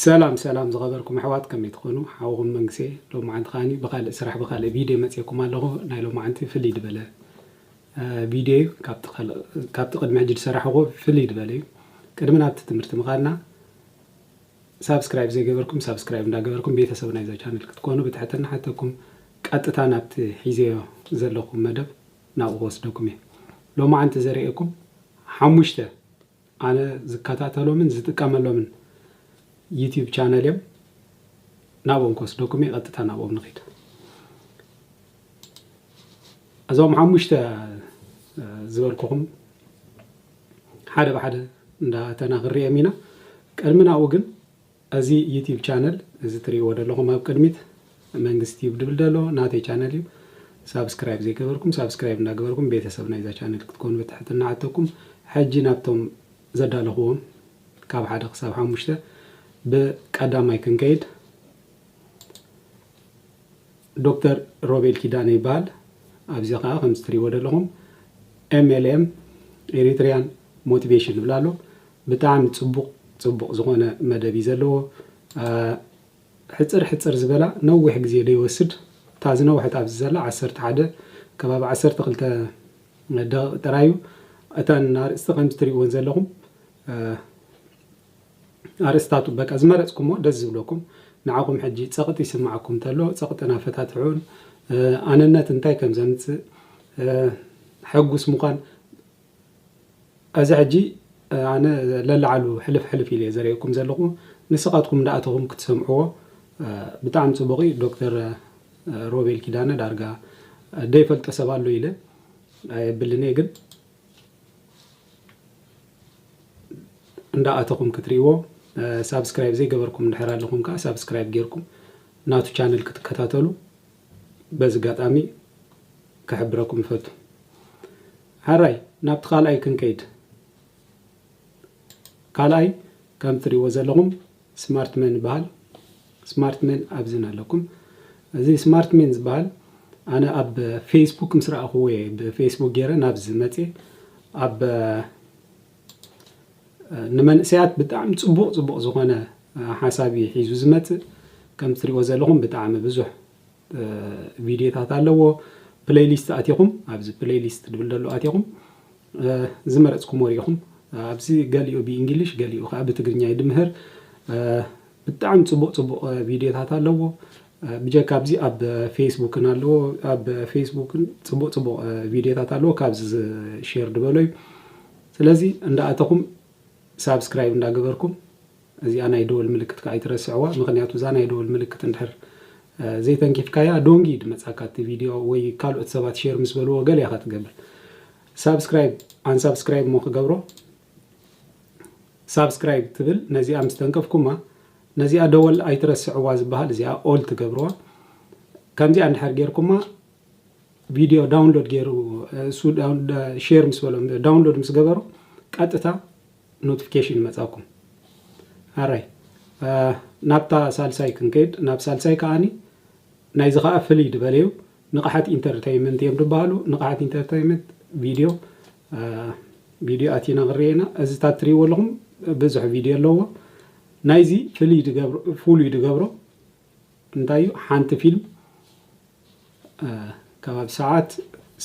ሰላም ሰላም ዝኸበርኩም ኣሕዋት ከመይ ትኾኑ ሓውኹም መንግሴ ሎማዓንቲ ከዓኒ ብኻልእ ስራሕ ብኻልእ ቪድዮ መጽኤኩም ኣለኹ ናይ ሎማዓንቲ ፍልይ ድበለ ቪድዮ እዩ ካብቲ ቅድሚ ሕጂ ዝሰራሕኹ ፍልይ ድበለ እዩ ቅድሚ ናብቲ ትምህርቲ ምኻድና ሳብስክራይብ ዘይገበርኩም ሳብስክራይብ እንዳገበርኩም ቤተሰብ ናይዛ ቻነል ክትኮኑ ብትሕትና ሓተኩም ቀጥታ ናብቲ ሒዘዮ ዘለኹም መደብ ናብኡ ክወስደኩም እየ ሎማዓንቲ ዘርእየኩም ሓሙሽተ ኣነ ዝከታተሎምን ዝጥቀመሎምን ዩቱብ ቻነል እዮም ናብኦም ክወስደኩም እየ ቀጥታ ናብኦም ንኺድ እዞም ሓሙሽተ ዝበልኩኹም ሓደ ብሓደ እንዳተና ክንሪኦም ኢና ቅድሚ ናብኡ ግን እዚ ዩቲብ ቻነል እዚ ትሪእዎ ደለኹም ኣብ ቅድሚት መንግስ ቲዩብ ድብል ደሎ ናተይ ቻነል እዩ ሳብስክራይብ ዘይገበርኩም ሳብስክራይብ እንዳገበርኩም ቤተሰብ ናይዛ ቻነል ክትኮኑ ብትሕትና ንሓተኩም ሕጂ ናብቶም ዘዳለኽዎም ካብ ሓደ ክሳብ ሓሙሽተ ብቀዳማይ ክንከይድ ዶክተር ሮቤል ኪዳነ ይበሃል ኣብዚ ከኣ ከምዚ ትሪእዎ ደለኹም MLM Eritrean Motivation ይብል ኣሎ ብጣዕሚ ጽቡቕ ጽቡቕ ዝኾነ መደብ እዩ ዘለዎ ሕጽር ሕጽር ዝበላ ነዊሕ ግዜ ደይወስድ እታ ዝነውሐት ኣብዚ ዘላ ዓሰርተ ሓደ ከባቢ ዓሰርተ ክልተ ደቒቕ ጥራይ እዩ እተን ኣርእስቲ ከምዚ ትሪእወን ዘለኹም ኣርእስታቱ በቃ ዝመረጽኩሞ ደስ ዝብለኩም ንዓኹም ሕጂ ጸቕጢ ይስምዓኩም ተሎ ጸቕጥና ፈታትሑን ኣነነት እንታይ ከም ዘምጽእ ሕጉስ ምዃን እዚ ሕጂ ኣነ ለላዓሉ ሕልፍ ሕልፍ ኢለ ዘርእየኩም ዘለኹ ንስኻትኩም እንዳኣተኹም ክትሰምዕዎ ብጣዕሚ ጽቡቕ እዩ ዶክተር ሮቤል ኪዳነ ዳርጋ ደይፈልጦ ሰብ ኣሎ ኢለ ኣይብልን እየ ግን እንዳ ኣተኹም ክትሪእዎ ሳብስክራይብ ዘይገበርኩም እንድሕር ኣለኹም ከኣ ሳብስክራይብ ጌርኩም ናቱ ቻነል ክትከታተሉ በዚ ኣጋጣሚ ክሕብረኩም እፈቱ። ሐራይ ናብቲ ካልኣይ ክንከይድ ካልኣይ ከም ትሪእዎ ዘለኹም ስማርት መን ይበሃል ስማርት መን ኣብዚን ኣለኩም እዚ ስማርት መን ዝበሃል ኣነ ኣብ ፌስቡክ ምስ ረኣኹዎ እየ ብፌስቡክ ገይረ ናብዚ መፅየ ኣብ ንመንእሰያት ብጣዕሚ ፅቡቕ ፅቡቕ ዝኾነ ሓሳብ እዩ ሒዙ ዝመፅእ ከም እትሪእዎ ዘለኹም ብጣዕሚ ብዙሕ ቪድዮታት ኣለዎ ፕለይሊስት ኣቲኹም ኣብዚ ፕለይሊስት ድብል ደሎ ኣቲኹም ዝመረፅኩምዎ ሪኢኹም ኣብዚ ገሊኡ ብእንግሊሽ ገሊኡ ከዓ ብትግርኛ እዩ ድምህር ብጣዕሚ ፅቡቕ ፅቡቕ ቪድዮታት ኣለዎ ብጀካ ኣብዚ ኣብ ፌስቡክን ኣለዎ ኣብ ፌስቡክን ፅቡቕ ፅቡቕ ቪድዮታት ኣለዎ ካብዚ ሼር ድበሎ እዩ ስለዚ እንዳኣተኹም ሳብስክራይብ እንዳገበርኩም እዚኣ ናይ ደወል ምልክት ከኣ ኣይትረስዕዋ ምኽንያቱ እዛ ናይ ደወል ምልክት እንድሕር ዘይተንኪፍካያ ዶንግ እዩ ድመጻካ እቲ ቪድዮ ወይ ካልኦት ሰባት ሼር ምስ በልዎ ገለ ኢኻ ትገብር ሳብስክራይብ ኣንሳብስክራይብ እሞ ክገብሮ ሳብስክራይብ ትብል ነዚኣ ምስ ተንከፍኩማ ነዚኣ ደወል ኣይትረስዕዋ ዝበሃል እዚኣ ኦል ትገብርዋ ከምዚኣ እንድሕር ጌርኩማ ቪድዮ ዳውንሎድ ገይሩ እሱ ሼር ምስ በሎም ዳውንሎድ ምስ ገበሩ ቀጥታ ኖትፍኬሽን ይመጻኩም ኣራይ ናብታ ሳልሳይ ክንከይድ ናብ ሳልሳይ ከኣኒ ናይዚ ከኣ ፍልይ ድበለ እዩ ንቕሓት ኢንተርተይመንት እዮም ድበሃሉ ንቕሓት ኢንተርተይመንት ቪድዮ ቪድዮ ኣቲና ክንሪኤ ኢና እዚ እታ እትሪእዎ ኣለኹም ብዙሕ ቪድዮ ኣለዎ ናይዚ ፍልይ ድገብሮ ፍሉይ ድገብሮ እንታይ እዩ ሓንቲ ፊልም ከባቢ ሰዓት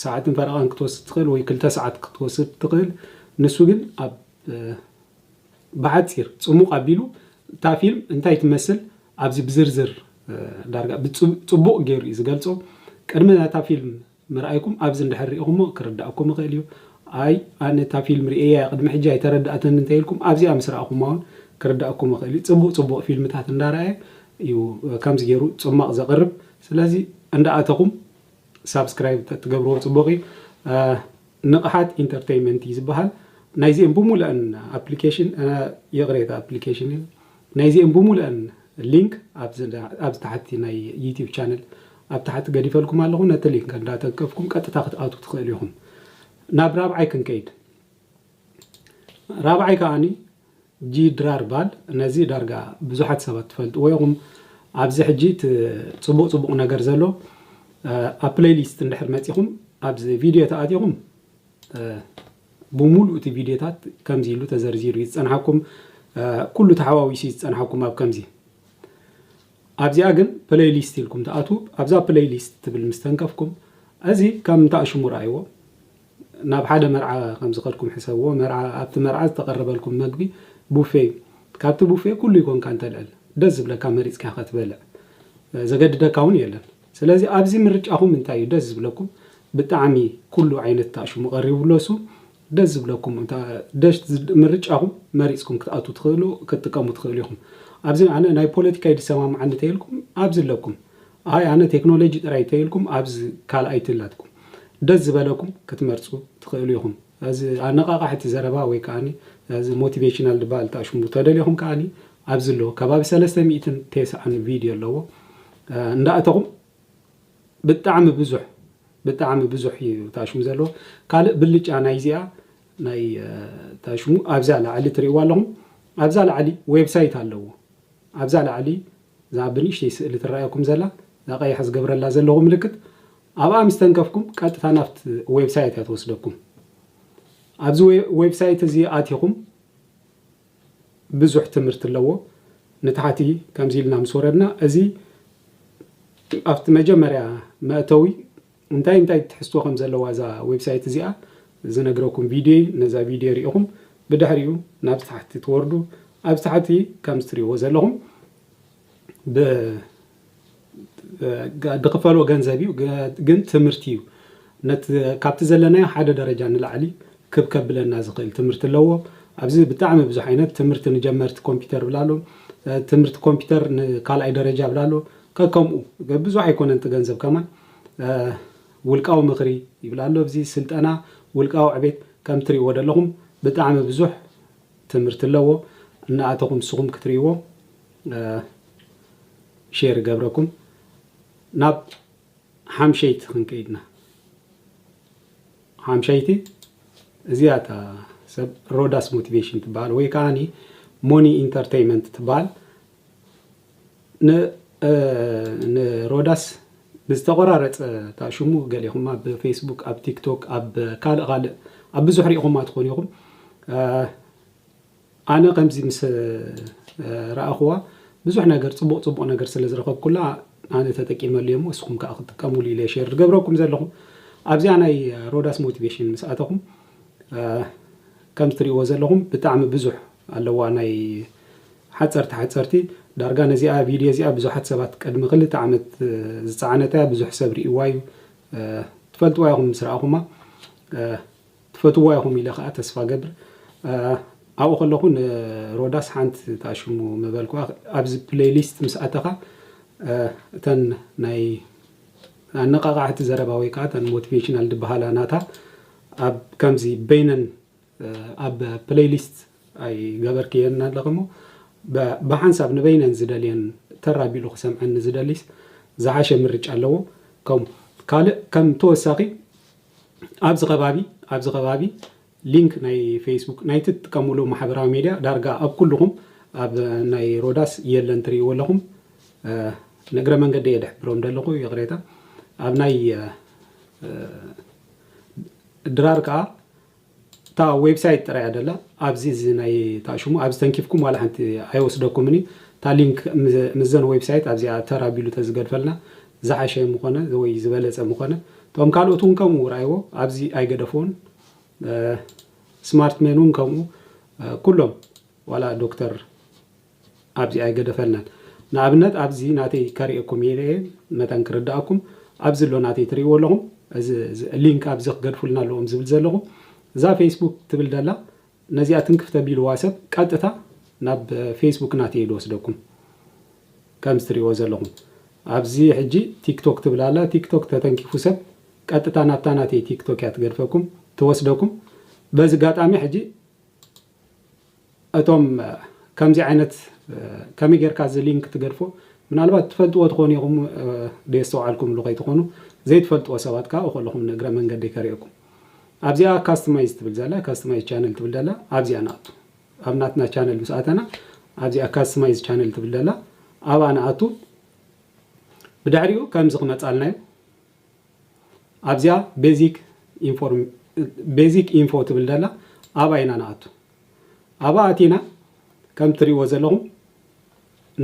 ሰዓትን ፈረቓን ክትወስድ ትኽእል ወይ ክልተ ሰዓት ክትወስድ ትኽእል ንሱ ግን ኣብ ብሓፂር ፅሙቕ ኣቢሉ እታ ፊልም እንታይ ትመስል ኣብዚ ብዝርዝር ዳርጋ ብፅቡቕ ገይሩ እዩ ዝገልፆ ቅድሚ ናታ ፊልም ምርኣይኩም ኣብዚ እንድሕር ሪኢኹሞ ክርድኣኩም ይኽእል እዩ ኣይ ኣነ እታ ፊልም ርእየያ እየ ቅድሚ ሕጂ ኣይተረድኣትን እንተይልኩም ኣብዚኣ ምስ ረኣኹማ እውን ክርድኣኩም ይኽእል እዩ ፅቡቕ ፅቡቕ ፊልምታት እንዳረኣየ እዩ ከምዚ ገይሩ ፅሟቕ ዘቕርብ ስለዚ እንዳ ኣተኹም ሳብስክራይብ ተትገብርዎ ጽቡቕ እዩ። ንቕሓት ኢንተርተይመንት እዩ ዝበሃል። ናይዚኤን ብሙሉኣን ኣፕሊኬሽን ይቕሬታ ኣፕሊኬሽን እዩ። ናይዚኤን ብሙሉኣን ሊንክ ኣብዚ ታሕቲ ናይ ዩቲዩብ ቻነል ኣብ ታሕቲ ገዲፈልኩም ኣለኹ። ነቲ ሊንክ እንዳተንከፍኩም ቀጥታ ክትኣትዉ ትኽእሉ ኢኹም። ናብ ራብዓይ ክንከይድ ራብዓይ ከኣ ጂድራር ባል ነዚ ዳርጋ ብዙሓት ሰባት ትፈልጥዎ ኢኹም ኣብዚ ሕጂ እቲ ጽቡቕ ጽቡቕ ነገር ዘሎ ኣብ ፕለይሊስት እንድሕር መጺኹም ኣብዚ ቪድዮ ተኣቲኹም ብምሉእ እቲ ቪድዮታት ከምዚ ኢሉ ተዘርዚሩ እዩ ዝጸንሓኩም ኩሉ ተሓዋዊሱ እዩ ዝጸንሓኩም ኣብ ከምዚ ኣብዚኣ ግን ፕለይሊስት ኢልኩም ተኣትዉ ኣብዛ ፕለይሊስት ትብል ምስ ተንከፍኩም እዚ ከም ታእሽሙ ረኣይዎ ናብ ሓደ መርዓ ከም ዝኸድኩም ሕሰብዎ፣ መርዓ፣ ኣብቲ መርዓ ዝተቐረበልኩም መግቢ ቡፌ እዩ። ካብቲ ቡፌ ኩሉ ይኮንካ እንተልዕል፣ ደስ ዝብለካ መሪጽካ ኢኻ ትበልዕ። ዘገድደካ እውን የለን። ስለዚ ኣብዚ ምርጫኹም እንታይ እዩ ደስ ዝብለኩም፣ ብጣዕሚ ኩሉ ዓይነት ታሽሙ ቀሪቡ ኣሎ እሱ ደስ ዝብለኩም እታ ደሽ ምርጫኹም መሪጽኩም ክትኣትዉ ትኽእሉ ክትጥቀሙ ትኽእሉ ኢኹም። ኣብዚ ኣነ ናይ ፖለቲካ እዩ ዝሰማምዓኒ ተይልኩም ኣብዚ ኣለኩም። ኣይ ኣነ ቴክኖሎጂ ጥራይ ተይልኩም ኣብዚ ካልኣይቲ ኣላትኩም ደስ ዝበለኩም ክትመርጹ ትክእሉ ኢኩም ኣዚ ኣነቃቃሕቲ ዘረባ ወይ ከኣ ኣዚ ሞቲቬሽናል ድበሃል ትኣሽሙ ተደሊኩም ከኣ ኣብዚ ኣሎ ከባቢ ሰለስተ ሚእትን ቴስዓን ቪድዮ ኣለዎ እንዳ ኣተኩም ብጣዕሚ ብዙሕ ብጣዕሚ ብዙሕ እዩ ትኣሽሙ ዘለዎ ካልእ ብልጫ ናይዚኣ ናይ ትኣሽሙ ኣብዛ ላዕሊ ትሪእዋ ኣለኩም ኣብዛ ላዕሊ ዌብሳይት ኣለዎ ኣብዛ ላዕሊ እዛ ኣብ ብንእሽተይ ስእሊ ትረኣየኩም ዘላ እዛ ቀያሕ ዝገብረላ ዘለኹ ምልክት ኣብኣ ምስ ተንከፍኩም ቀጥታ ናብቲ ዌብሳይት እያ ትወስደኩም። ኣብዚ ዌብሳይት እዚ ኣቲኹም ብዙሕ ትምህርቲ ኣለዎ። ንታሕቲ ከምዚ ኢልና ምስ ወረድና እዚ ኣብቲ መጀመርያ መእተዊ እንታይ እንታይ ትሕዝቶ ከም ዘለዋ እዛ ዌብሳይት እዚኣ ዝነግረኩም ቪድዮ'ዩ፣ ነዛ ቪድዮ ርኢኹም ብድሕሪኡ ናብዚ ታሕቲ ትወርዱ፣ ኣብዚ ታሕቲ ከምዚ ትሪእዎ ዘለኹም ብ ድኽፈሎ ገንዘብ እዩ ግን ትምህርቲ እዩ ነት ካብቲ ዘለናዮ ሓደ ደረጃ ንላዕሊ ክብ ከብለና ዝኽእል ትምህርቲ ኣለዎ። ኣብዚ ብጣዕሚ ብዙሕ ዓይነት ትምህርቲ ንጀመርቲ ኮምፒውተር ይብል ኣሎ፣ ትምህርቲ ኮምፒውተር ንካልኣይ ደረጃ ይብል ኣሎ፣ ከከምኡ ብዙሕ ኣይኮነን እቲ ገንዘብ ከማን ውልቃዊ ምኽሪ ይብል ኣሎ ኣብዚ ስልጠና ውልቃዊ ዕቤት ከምቲ ትሪእዎ ዘለኹም ብጣዕሚ ብዙሕ ትምህርቲ ኣለዎ እናኣተኹም ንስኹም ክትሪእዎ ሼር ይገብረኩም ናብ ሓምሸይቲ ክንከይድና ሓምሸይቲ እዚኣ እታ ሰብ ሮዳስ ሞቲቬሽን ትበሃል ወይ ከዓኒ ሞኒ ኢንተርቴይመንት ትበሃል ን ን ሮዳስ ብዝተቆራረጸ እታ ሽሙ ገሊኹም ኣብ ፌስቡክ ኣብ ቲክቶክ ኣብ ካልእ ካልእ ኣብ ብዙሕ ሪኢኹማ ትኾኑ ኢኹም ኣነ ከምዚ ምስ ረኣኹዋ ብዙሕ ነገር ጽቡቕ ጽቡቕ ነገር ስለ ዝረኸብኩላ ኣነ ተጠቂመሉ እየ እሞ እስኹም ከኣ ክትጥቀምሉ ኢለ ሼር ዝገብረኩም ዘለኹ ኣብዚኣ ናይ ሮዳስ ሞቲቬሽን ምስ ኣተኹም ከም ትሪእዎ ዘለኹም ብጣዕሚ ብዙሕ ኣለዋ ናይ ሓጸርቲ ሓጸርቲ ዳርጋ ነዚኣ ቪድዮ እዚኣ ብዙሓት ሰባት ቅድሚ ክልተ ዓመት ዝጸዓነታ እያ ብዙሕ ሰብ ሪእዋ እዩ ትፈልጥዋ ኢኹም ምስ ረኣኹማ ትፈትዋ ኢኹም ኢለ ከኣ ተስፋ ገብር ኣብኡ ከለኹ ንሮዳስ ሓንቲ ታሽሙ ምበልኩዋ ኣብዚ ፕለይሊስት ምስ ኣተኻ እተን ናይ ኣነቃቃዕቲ ዘረባ ወይ ከዓ እተን ሞቲቬሽናል ድበሃላ ናታ ኣብ ከምዚ በይነን ኣብ ፕለይሊስት ኣይገበርክየንን ኣለኺ'ሞ ብሓንሳብ ንበይነን ዝደልየን ተር ኣቢሉ ክሰምዐን ንዝደሊስ ዝሓሸ ምርጫ ኣለዎ። ከምኡ ካልእ ከም ተወሳኺ ኣብዚ ከባቢ ኣብዚ ከባቢ ሊንክ ናይ ፌስቡክ ናይቲ ትጥቀምሉ ማሕበራዊ ሜድያ ዳርጋ ኣብ ኩሉኹም ኣብ ናይ ሮዳስ የለን ትርእይዎ ኣለኹም ንእግረ መንገደይ እየ ድሕብሮም ደለኹ ይቕሬታ ኣብ ናይ ድራር ከኣ እታ ዌብሳይት ጥራይ እያ ደላ ኣብዚ እዚ ናይ እታ ሽሙ ኣብዚ ተንኪፍኩም ዋላ ሓንቲ ኣይወስደኩምን እዩ እታ ሊንክ ምዘን ዌብሳይት ኣብዚኣ ተር ኣቢሉ ተዝገድፈልና ዝሓሸ ምኾነ ወይ ዝበለጸ ምኾነ እቶም ካልኦት እውን ከምኡ ርኣይዎ ኣብዚ ኣይገደፍዎን ስማርት ሜን እውን ከምኡ ኩሎም ዋላ ዶክተር ኣብዚ ኣይገደፈልናን ንኣብነት ኣብዚ ናተይ ከሪኤኩም ኢለ እየ መታን ክርዳኣኩም ኣብዚ ኣሎ ናተይ ትሪእዎ ኣለኹም እዚ ሊንክ ኣብዚ ክገድፉልና ኣለዎም ዝብል ዘለኹ እዛ ፌስቡክ ትብል ደላ ነዚኣ ትንክፍ ተቢልዋ ሰብ ቀጥታ ናብ ፌስቡክ ናተይ ድወስደኩም ከምዚ ትሪእዎ ዘለኹም ኣብዚ ሕጂ ቲክቶክ ትብል ኣላ ቲክቶክ ተተንኪፉ ሰብ ቀጥታ ናብታ ናተይ ቲክቶክ እያ ትገድፈኩም ትወስደኩም በዚ ጋጣሚ ሕጂ እቶም ከምዚ ዓይነት ከመይ ጌርካ እዚ ሊንክ ትገድፎ ምናልባት ትፈልጥዎ ትኾኑ ኢኹም ደየስተውዓልኩምሉ ከይትኾኑ ዘይትፈልጥዎ ሰባት ከኣ እኾለኹም ንእግረ መንገደይ ከርእየኩም ኣብዚኣ ካስትማይዝ ትብል ዘላ ካስትማይዝ ቻነል ትብል ዘላ ኣብዚኣ ንኣቱ ኣብ ናትና ቻነል ምስ ኣተና ኣብዚኣ ካስትማይዝ ቻነል ትብል ዘላ ኣብኣ ንኣቱ ብድሕሪኡ ከምዚ ክመጻልና እዩ ኣብዚኣ ቤዚክ ኢንፎርም ቤዚክ ኢንፎ ትብል ደላ ኣብኣ ኢና ንኣቱ ኣብኣ ኣቲና ከም ትሪእዎ ዘለኹም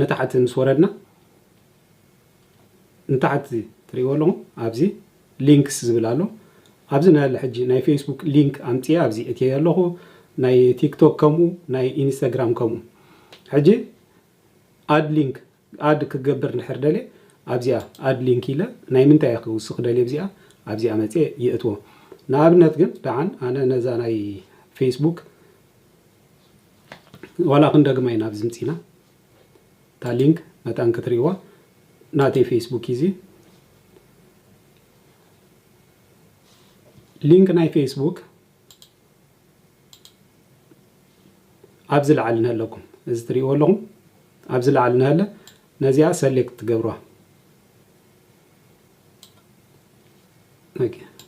ንታሕቲ ምስ ወረድና ንታሕቲ ትሪእዎ ኣለኹም ኣብዚ ሊንክስ ዝብል ኣሎ ኣብዚ ናይ ሕጂ ናይ ፌስቡክ ሊንክ ኣምፅኤ ኣብዚ እትየ ኣለኹ ናይ ቲክቶክ ከምኡ ናይ ኢንስታግራም ከምኡ ሕጂ ኣድ ሊንክ ኣድ ክገብር እንድሕር ደልየ ኣብዚኣ ኣድ ሊንክ ኢለ ናይ ምንታይ እየ ክውስኽ ደልየ ብዚኣ ኣብዚኣ መጽየ ይእትዎ ንኣብነት ግን ደሓን ኣነ ነዛ ናይ ፌስቡክ ዋላ ክንደግማ ኢና ኣብዚ ምጺና እታ ሊንክ መታን ክትሪእዋ ናተይ ፌስቡክ እዩ እዚ ሊንክ ናይ ፌስቡክ ኣብዚ ላዕሊ ንሀለኩም እዚ ትሪእዎ ኣለኹም ኣብዚ ላዕሊ ንሀለ ነዚኣ ሰሌክት ትገብርዋ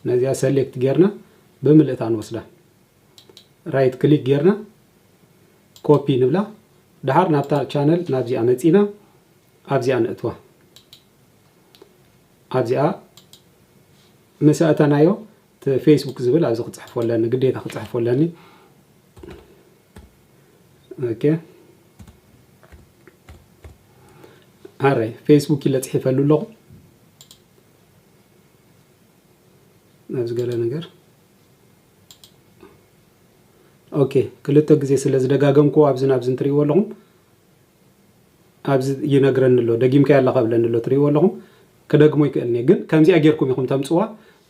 ነዚኣ ሰሌክት ጌርና ብምልእታ ንወስዳ ራይት ክሊክ ጌርና ኮፒ ንብላ ድሓር ናብታ ቻነል ናብዚኣ መፂና ኣብዚኣ ንእትዋ ኣብዚኣ ምስ ኣእተናዮ ፌስቡክ ዝብል ኣብዚ ክፅሕፎ ኣለኒ ግዴታ ክፅሕፎ ኣለኒ ኦኬ ኣረይ ፌስቡክ ኢለ ፅሒፈሉ ኣለኹ ኣብዚ ገለ ነገር ኦኬ ክልተ ግዜ ስለ ዝደጋገምኩ ኣብዚ ናብዚ እንትሪእዎ ኣለኹም ኣብዚ ይነግረኒ ኣሎ ደጊምካ ኣለካ ብለኒ ኣሎ ትሪእዎ ኣለኹም ክደግሞ ይክእል እየ ግን ከምዚኣ ጌርኩም ኢኩም ተምጽዋ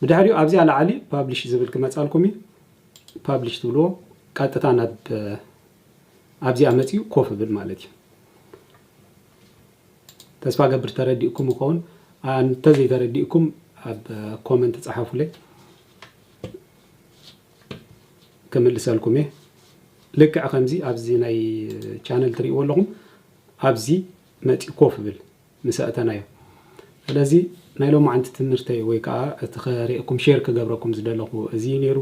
ብድሕሪኡ ኣብዚኣ ላዓሊ ፓብሊሽ ዝብል ክመጻልኩም እዩ ፓብሊሽ ትብልዎ ቀጥታ ናብ ኣብዚኣ መጺኡ ኮፍ ብል ማለት እዩ ተስፋ ገብር ተረዲእኩም ይኸውን እንተዘይተረዲእኩም ኣብ ኮመንት ጸሓፉለይ ክምልሰልኩም እየ ልክዕ ከምዚ ኣብዚ ናይ ቻነል ትሪእዎ ኣለኹም ኣብዚ መፂኡ ኮፍ ብል ምስ ኣእተናዮ። ስለዚ ናይ ሎማዓንቲ ትምርተይ ወይ ከኣ እቲ ከርእየኩም ሼር ክገብረኩም ዝደለኩ እዚ እዩ ነይሩ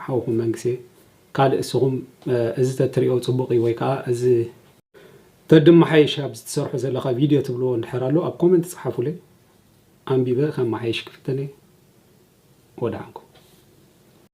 ሓውኩም መንግሴ ካልእ እስኩም እዚ ተትርእዮ ጽቡቅ እዩ ወይ ከኣ እዚ ተድማሓይሽ ኣብዚ ትሰርሖ ዘለካ ቪድዮ ትብልዎ እንድሕር ኣሎ ኣብ ኮመንት ጽሓፉለይ ኣንቢበ ከማሓይሽ ክፍትን እየ ወደሓንኩም።